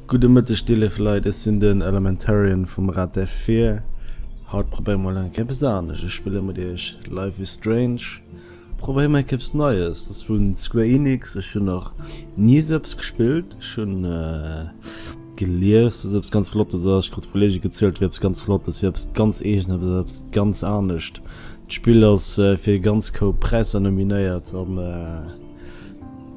Gudde Mëtteg dir léif Leit, ech sinn den Elementarian vum Raddev Fear. Haut probéiere mol eng Kéier eppes anescht, ech spille mat iech Life is Strange, probéiere mol eng Kéier eppes Neies, ass vun Square Enix, ech hunn nach ni esou eppes gespillt, ech hunn gelies dass eppes ganz flottes ass, ech krut vu Kollege gezielt wier eppes ganz flottes, wier eppes ganz eegenes, wier eppes ganz anescht. D'Spill ass fir e ganz Koup Präisser nominéiert an.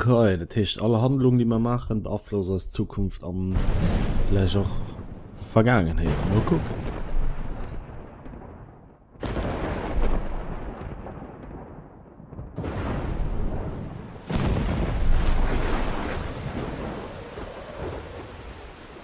Okay, dat heescht all Handlung déi mer maachen beaflosst eis Zukunft an vläicht och Vergaangenheet. Mol kucken.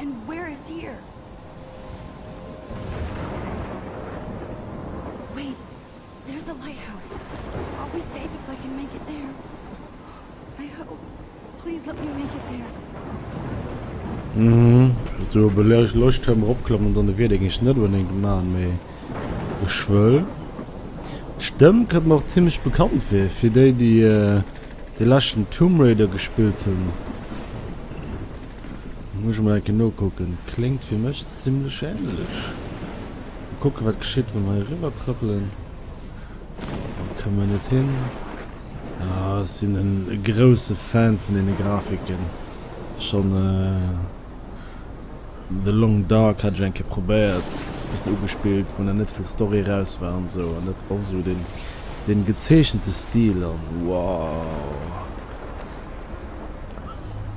And where is here? Wait, there's a lighthouse. I'll be safe if I can make it there. I hope. Please let me make it there. Mhm. So belech lech Turm opklammen, dann de Wiedek ech net unbedingt machen, méi ech wëll. D'Stëmm kënnt mir och ziemlich bekannt fir, fir déi, déi äh, de leschten Tomb Raider gespillt hunn. Muss ech mol enke nokucken. Kléngt fir mech zimlech ähnlech. Mol kucken wat geschitt wa mer hei riwwer trëppelen. Hei komme mer net hin. Ah ech sinn en grousse Fan vun deene Grafiken. Schonn The Long Dark hat ech eng Kéier probéiert, e bëssen ugespillt, wou nach net vill Story raus war an esou. An dat och esou deen gezeechente Stil an wow.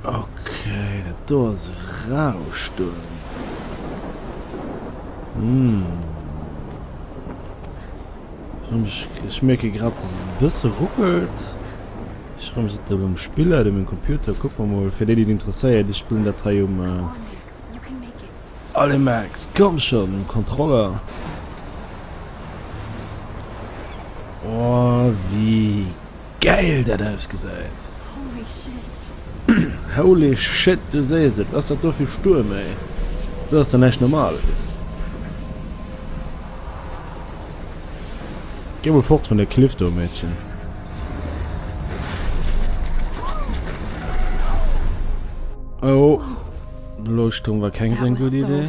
Ok dat do ass e Rauschturm hm ech mierke grad dass et e bësse ruckelt. Ech renne mech dat erëm spillen op mengem Computer. Kucke mer mol fir déi déi et interesséiert, ech spillen dat hei um Allez Max komm schonn um Controller. Oh wéi Geil dat ausgesäit! Holy shit du sees et, ass dat do vill Stuerm ey, do ass der näischt normales. Geh mol fort vun der Cliff do Mädchen. Oh Leuchtturm war keng seng gudd Idee.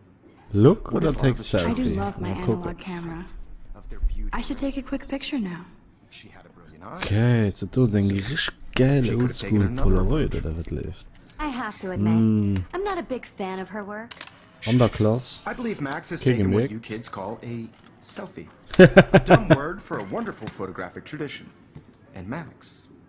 Look oder take selfie? Mal kucken. Okay, so do seng rich geil oldschool Polaroid oder wat leeft? Mm. An der Klass. Kee gemerkt.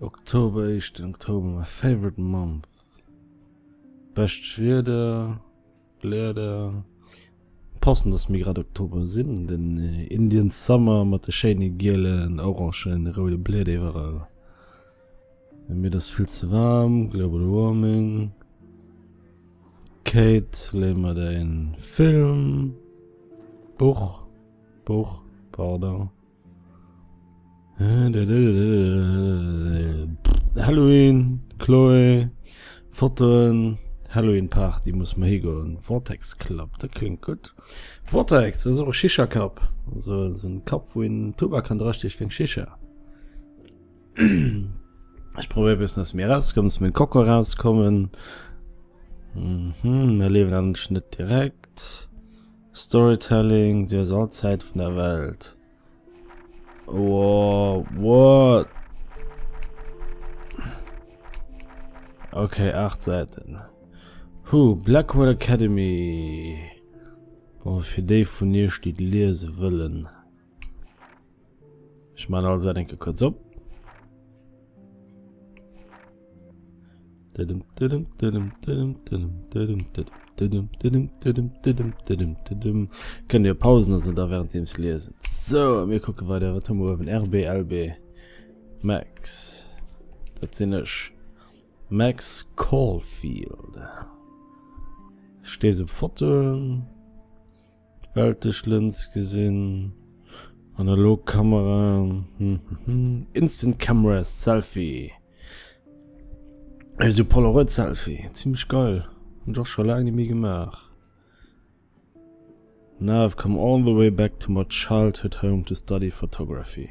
Oktober Eischt den Oktober, my favorite month Bescht Wieder, Bläder Passend dass mir grad Oktober sinn, den Indian Summer mat de schéine gielen, orangen, roude Bläder iwwerall Mir dass vill ze waarm, global warming Kate léi mer däin Film, Buch, Buch, pardon. Halloween, Chloe, Fotoen, Halloween Party, muss mer higoen. Vortex Club, dat kléngt gutt. Vortex, dat ass och e Shisha-Cup, also esou en Cup, wou een Tubak kann drasteeche fir eng Shisha. Ech probéiere e bëssen aus mir erauszekommen, aus mengem Kokon erauszekommen. Hm, hm, mer liewen anescht net direkt. Storytelling, du hues all d'Zäit vun der Welt. Wow, what? Ok, 8 Säiten. Huh, Blackwood Academy. Bon, fir déi vun iech, déi liese wëllen. Ech man alles eng Ke kurz op. Kënnt Dir Pausen ass da während deems liesen. So mir kucke wei der wat huewen RBLB Max Dat sinn ech Max Caulfield Stees op Fotoen. Weltlech Lëns gesinn, analog Kamera, instant cameras, Selfie, esou Polaroid Selfie, zimlech geil, hunn ech och scho laang ni méi gemaach. Now I've come all the way back to my childhood home to study photography.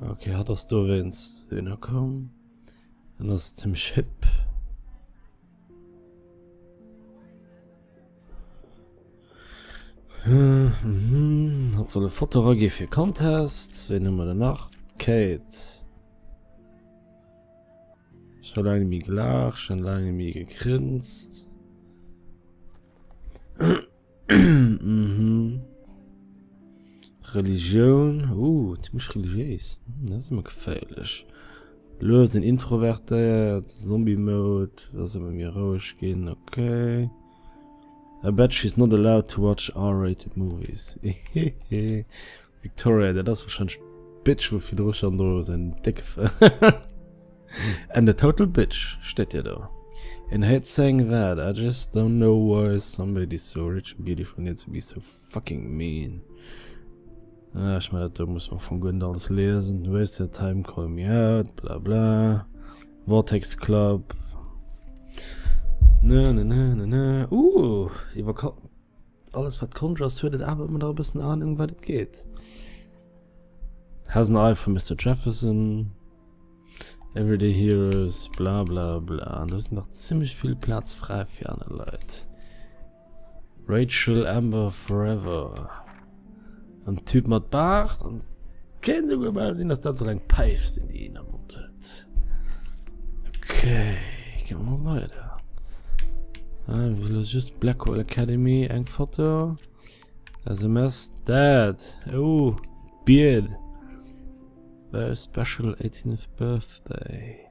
Okay, hat ass do wéins den er komm. En ass zum Schipp. Hm, hm, hat soll e Foto ragi fir Contest, wéi nëmmer der nach Kate. Ich war lange mi gelach, schon lange mi gegrinst. mhm. Religioun uh, mech religiéis hm, me geféierlech Loes den introvertéiert Zombie Mode ass emmer mir roueg ginn okay. I bet she's not allowed to watch R-rated movies. Victoria, dat ass wahrscheinlech d'Bitch wou virdru schon do säin décke Fré And a total bitch steet jo do. En hätt seng Recht, I just don't know why somebody so rich and beautiful needs to be so fucking mean. Ah, ech mein dat do muss mer am Fong guer net alles liesen, waste your time calling me out, bla bla, Vortex Club, ne ne ne ne ne, uh, iwwer Ka. Alles wat Conjure ass huet et awer ëmmer nach e bëssen Ahnung wat et geet. Has an eye for Mister Jefferson, Everyday Heroes, bla bla bla. Do ass nach zimmlech vill Plaz fräi fir aner Leit. Rachel Amber Forever. An den Typ mat Baart an kéint souguer bal sinn, dass dat soll eng Päif sinn, déi een am Mond huet. Okay, gi mer mol weider. Ah, ech muss elo just Blackwell Academy, eng Foto. SMS, dat. Oh, Beard. Very special 18th birthday.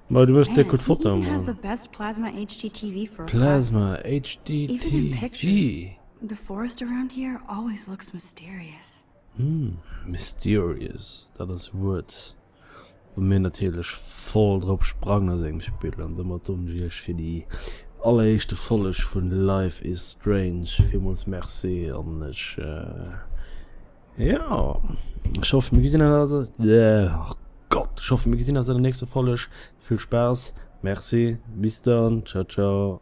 Mei du hues déck gudd Foto man. Plasma HD TV. Hm mysterious dat ass e Wuert wou mir natierlech voll drop sprangen aus engem Spill an domat hunn ech iech fir déi alleréischte Folleg vun Life is Strange villmools Merci an ech. Ja ech hoffe mir gesinn eis Gott ech hoffe mir gesinn eis an der nächster Folleg. Vill Spaass, Merci, bis dann, ciao ciao.